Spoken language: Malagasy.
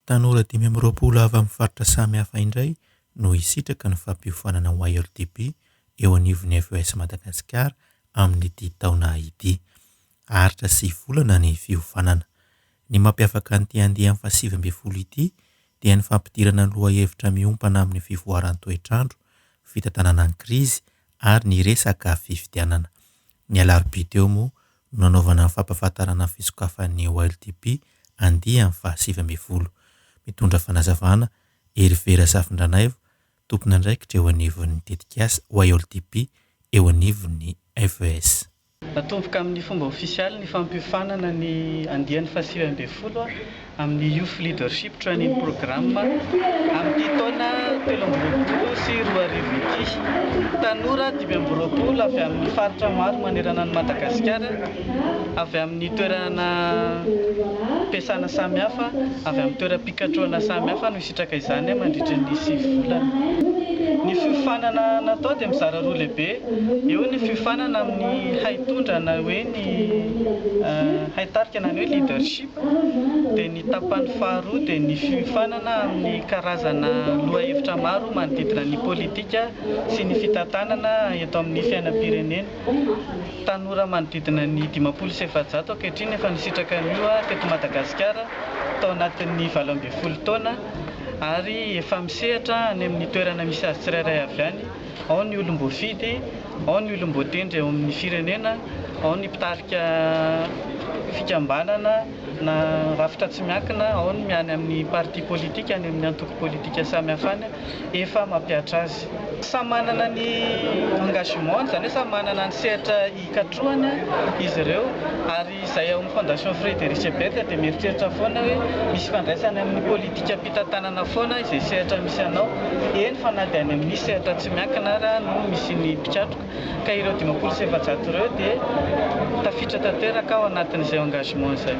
Tanora dimy amby roapolo avy amin'ny faritra samihafa indray no hisitraka ny fampiofanana ho ILDB eo anivon'ny FES Madagasikara amin'ity taona ity. Aritra sy volana ny fiofanana. Ny mampiavaka an'ity andiany fahasivy ambin'ny folo ity dia ny fampidirana lohahevitra miompana amin'ny fivoaran'ny toetr'andro, fitantanana ny krizy ary ny resaka fifidianana. Ny alarobia teo moa no nanaovana ny fampahafantarana ny fisokafan'ny YLDP andiany fahasivy ambin'ny folo. Mitondra fanazavana Hervé Rasafindranaivo, tompon'andraikitra eo anivon'ny tetikasa YLDP eo anivon'ny FES. Natomboka amin'ny fomba ofisialy ny fampiofanana ny andiany fahasivy ambin'ny folo amin'ny Youth Leadership Training Program amin'ity taona telo amby roapolo sy roa arivo ity. Tanora dimy amby roapolo avy amin'ny faritra maro manerana an'i Madagasikara, avy amin'ny toerana am-piasana samihafa, avy amin'ny toeram-pikatrohana samihafa no hisitraka izany mandritra ny sivy volana. Ny fiofanana natao dia mizara roa lehibe, eo ny fiofanana amin'ny haitondra na hoe ny haitarika na ny hoe leadership, dia ny tapany faharoa dia ny fiofanana amin'ny karazana lohahevitra maro manodidina ny politika sy ny fitantanana eto amin'ny fiainam-pirenena. Tanora manodidina ny dimampolo sy efajato ankehitriny efa nisitraka an'io teto Madagasikara tao anatin'ny valo ambin'ny folo taona ary efa misehatra any amin'ny toerana misy azy tsirairay avy any. ao ny olom-boafidy, ao ny olom-boatendry eo amin'ny firenena, ao ny mpitarika fikambanana na rafitra tsy miankina, ao ny any amin'ny parti politika, any amin'ny antoko politika samihafa any, efa mampihatra azy. Samy manana ny engagement-ny, izany hoe samy manana ny sehatra hikatrohana izy ireo ary. Izay ao amin'ny Fondation Frédéric Ebert dia mieritreritra foana hoe misy ifandraisany amin'ny politikam-pitantanana foana izay sehatra misy anao, eny fa na dia any amin'ny sehatra tsy miankina ara no misy ny mpikatroka. Ka ireo dimampolo sy efajato ireo dia tafiditra tanteraka ao anatin'izay engagement izay.